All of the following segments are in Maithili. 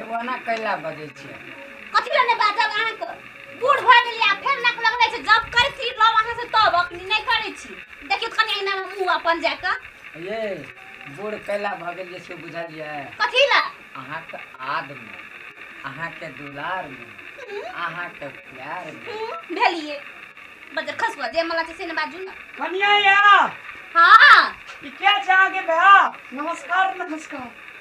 एगो अना कैला बजै छियै कथी लए नहि बाजब अहाँके बूढ़ भऽ गेलियै आ फेर नाक लगबै छै जब करै छी लव अहाँ से तब अखनी नहि करै छी देखियौ कनि एना मुंह अपन जा कऽ ये बूढ़ कैला भऽ गेलियै से बुझलियै कथी लए अहाँके आदमी अहाँके दुलार में अहाँके प्यार में हूँ, भेलियै बजे खसुआ जे मला छै से ने बाजू ने कनिया या हाँ ई क्या चाह के भा नमस्कार नमस्कार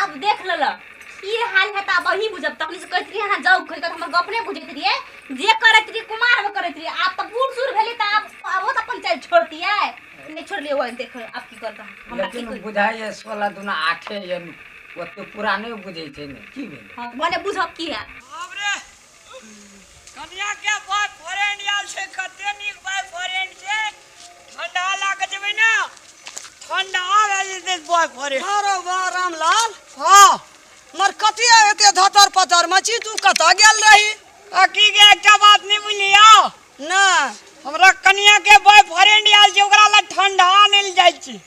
आब देख लल की हाल है ता वही बुझब तखनी से कहत रही हां जाऊ कहि के हमर गप नै बुझैत रहिए जे करत रही कुमार में करत रही आप त बूढ़ सूर भेली त आप अब त अपन चल छोड़ दिए नै छोड़ लिए वो देख आप की करता हमरा की लेकिन बुझाइ ये सोलह दुना आठे ये ओते पुराने बुझै छै ने की भेल हां माने बुझब की है कनिया के बाय फ्रेंड आयल छै कते नीक बाय फ्रेंड छै ठंडा लागे जेबै ना ठंडा आवे जेतै बाय फ्रेंड अरे वाह रामलाल हां मर कथी एते धतर पतर मची तू कत गेल रही अकी के एकटा बात नहीं बुझलिया ना हमरा कनिया के बाय फ्रेंड आयल छै ओकरा ला ठंडा आने ले जाय छी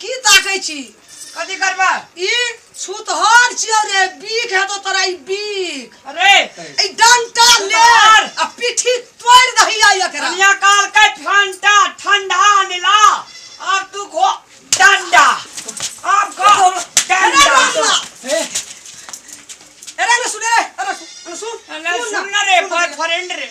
की ताकै छी कथी करबा ई छुतहर छियौ रे बीख हेतौ तोरा ई बीख अरे ई डंटा ले छुतहर! आ पीठी तोड़ दही आ एकरा कनिया काल के ठंडा ठंडा अनिला अब तू खो डंडा अब खो अरे डंडा रामा! ए, अरे अरे सुन रे अरे सुन अरे सुन ना। सुन ना रे बॉयफ्रेंड रे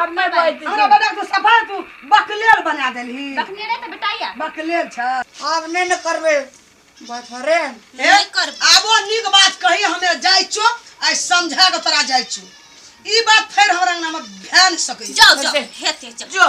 आब नहि बाजि दै हमरा छियै। बेटा तू सफा तू बकलेल बना देलही रखने रहे तो बेटाइया बकलेल छ आब नहि ने करबै बथरे नहीं कर आबो नीक बात कही हमे जाइ छो आइ समझा के तोरा जाइ छो ई बात फेर हमरा अंगना में भए नहि सकै जाओ जाओ हेते चल जो